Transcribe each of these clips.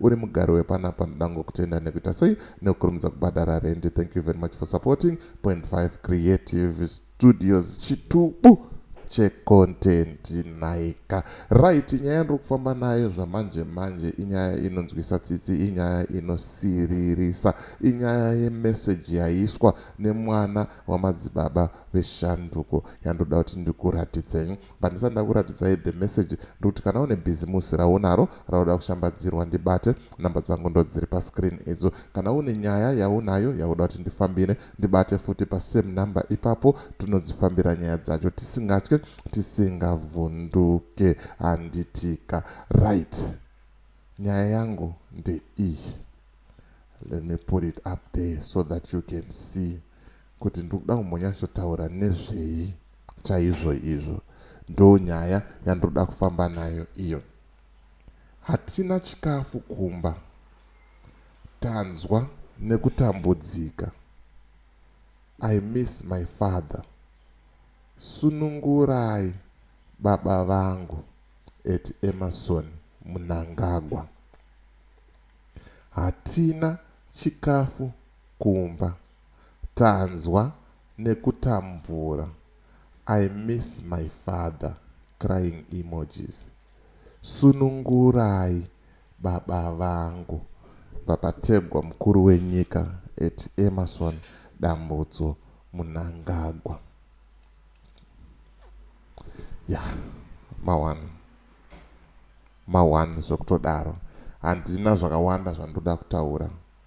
uri mugari wepanapa ndoda ngokutenda nekuita sei nekukurumidza kubhadhara rendi thank you very much for supporting point 5 creative studios chitubu checontent nhaika right nyaya yandiri kufamba nayo zvamanje manje inyaya inonzwisa tsitsi inyaya inosiririsa inyaya yemeseji yaiswa nemwana wamadzibaba veshanduko yandoda kuti ndikuratidze Pandisati ndakuratidzai the message ndikuti kana une bhizimusi raunaro rauda kushambadzirwa ndibate, number dzangu ndodziri pascreen idzo. Kana une nyaya yaunayo yauda kuti ndifambire ndibate futi pasame number ipapo tinodzifambira nyaya dzacho tisingatye tisingavhunduke handitika. Right nyaya yangu ndeiyi let me put it up there so that you can see kuti ndikuda kumbonyatsotaura nezvei. Chaizvoizvo ndonyaya yandinoda kufamba nayo iyo. Hatina chikafu kumba. Tanzwa nekutambudzika. I miss my father. Sunungurai baba vangu at Emerson Mnangagwa. Hatina chikafu kumba. Tanzwa nekutambura I miss my father crying emojis sunungurai baba vangu. VaPategwa mukuru wenyika at Emmerson Dambudzo Munangagwa yeah ma one ma one zvekutodaro handina zvakawanda zvandoda kutaura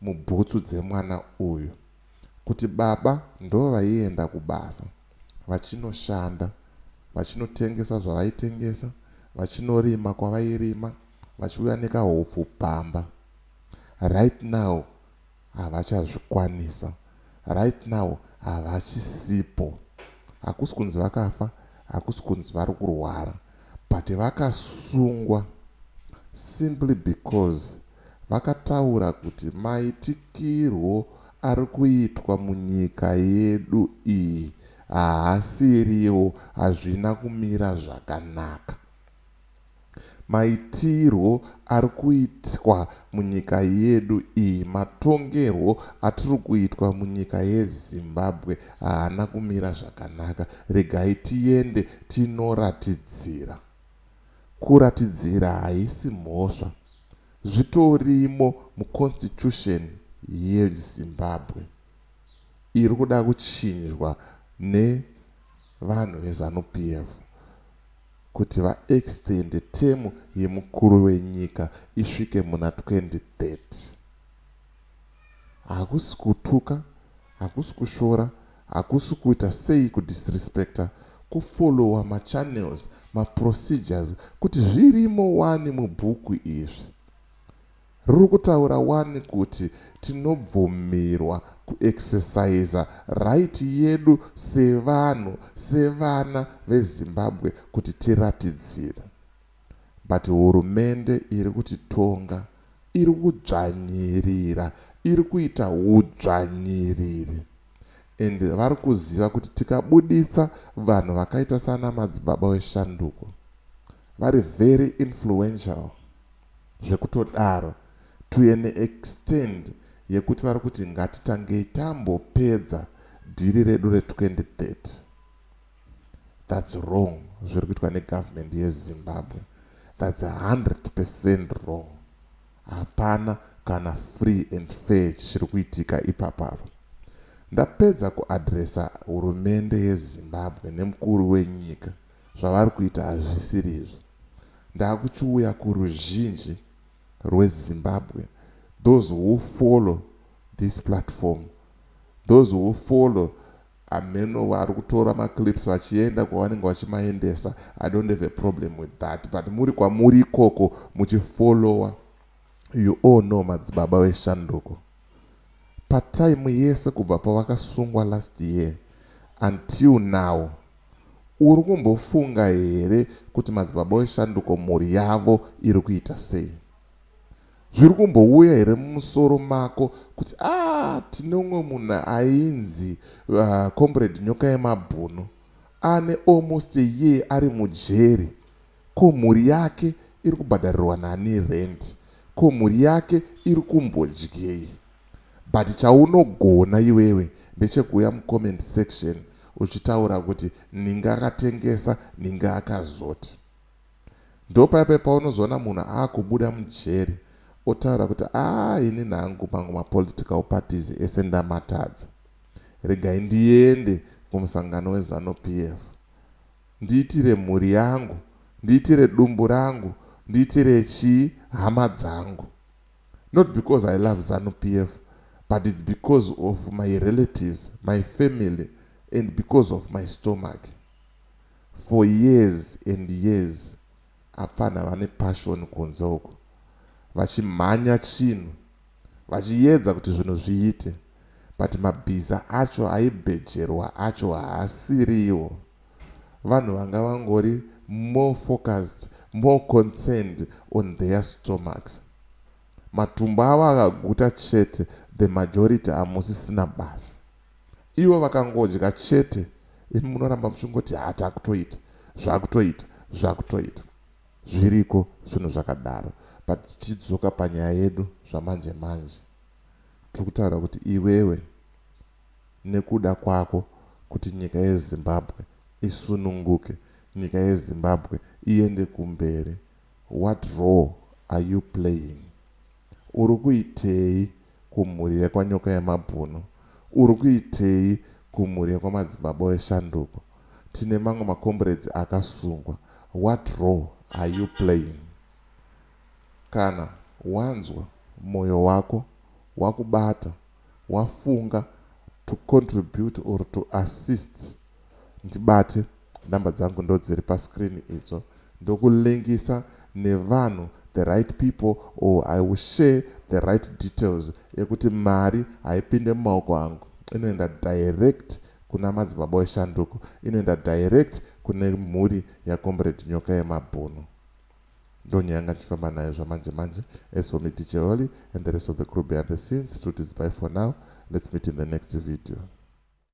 mubhutsu dzemwana uyu kuti baba ndovaienda kubasa vachinoshanda vachinotengesa zvavaitengesa vachinorima kwavairima vachiuya nekahupfu pamba right now havachazvikwanisa right now havachisipo hakusi kunzi vakafa hakusi kunzi vari kurwara but vakasungwa simply because vakataura kuti maitikirwo ari kuitwa munyika yedu iyi haasiriwo hazvina kumira zvakanaka. Maitirwo ari kuitwa munyika yedu iyi, matongerwo atiri kuitwa munyika yeZimbabwe haana kumira zvakanaka. Regai tiende tinoratidzira Kuratidzira haisi mhosva zvitorimo mu constitution ye Zimbabwe iri kuda kuchinjwa ne vanhu ve zanu PF kuti va extende term ye mukuru wenyika isvike muna 2030. Hakusi kutuka, hakusi kushora Hakusi kuita sei ku disrespecter ku follower ma channels ma procedures kuti zvirimo wani mubhuku izvi. Riri kutaura wani kuti tinobvumirwa ku exerciser right yedu sevanhu sevana ve Zimbabwe kuti tiratidzire. But hurumende iri kutitonga iri kudzvanyirira iri kuita hudzvanyiriri and vari kuziva kuti tikabuditsa vanhu vakaita sana madzibaba weshanduko vari very influential zvekutodaro to an extend yekuti vari kuti ngatitangei tambopedza dhiri redu re 2030. That's wrong zviri kuitwa ne government ye Zimbabwe that's 100% wrong hapana kana free and fair chiri kuitika ipapo apa ndapedza ku addressa hurumende ye Zimbabwe ne mukuru we nyika zvavari kuita hazvisiri izvi ndakuchiuya ku ruzhinji rwe Zimbabwe those who follow this platform those who follow Hameno vari kutora maclips vachienda kwavanenge vachimaendesa I don't have a problem with that but muri kwamuri ikoko muchifollower you all know madzibaba veshanduko patime yese kubva pavakasungwa last year until now uri kumbofunga here kuti madzibaba weshanduko mhuri yavo iri kuita sei Zviri kumbouya here mumusoro mako kuti aah tine umwe munhu ainzi Comrade Nyokayemabhunu ane almost a year ari mujeri ko mhuri yake iri kubhadharirwa nani rent ko mhuri yake iri kumbodyei but chaunogona iwewe ndechekuuya mucomment section uchitaura kuti ninga akatengesa ninga akazoti Ndopaya paya paunozoona munhu aakubuda mujeri otaura kuti aa inini hangu mangu mapolitical parties ese ndamatadza. Regai ndiende kumusangano weZanu PF ndiitire mhuri yangu, ndiitire dumbu rangu, ndiitire chii hama dzangu. Not because I love Zanu PF but it's because of my relatives, my family and because of my stomach. For years and years apfanha vane passion kunze uko vachimhanya chinhu vachiyedza kuti zvinhu zviite but mabhiza acho aibhejerwa acho haasiriwo vanhu vanga vangori more focused more concerned on their stomachs matumbu avo akaguta chete the majority amusisina basa Ivo vakangodya chete imi munoramba muchingoti haa takutoita zvakutoita zvakutoita zviriko zvinhu zvakadaro but tichidzoka panyaya yedu zvamanje manje tiri kutaura kuti iwewe nekuda kwako kuti nyika yezimbabwe isununguke nyika yezimbabwe iende kumberi what role are you playing Uri kuitei kumhuri yekwa Nyokayemabhunu? Uri kuitei kumhuri yekwa Madzibaba weShanduko? Tine mamwe makomburedzi akasungwa. What role are you playing? Kana wanzwa moyo wako wakubata wafunga to contribute or to assist ndibate number dzangu ndodziri pa screen idzo ndoku linkisa nevanhu the right people or I will share the right details ekuti mari haipinde mumaoko angu inoenda direct kuna madzibaba eshanduko inoenda direct kune mhuri yaComrade Nyoka Yemabhunu. Ndoni yanga ndichifamba nayo zvamanje manje as for me DJ Olly and the rest of the crew behind the scenes Truth is bye for now let's meet in the next video.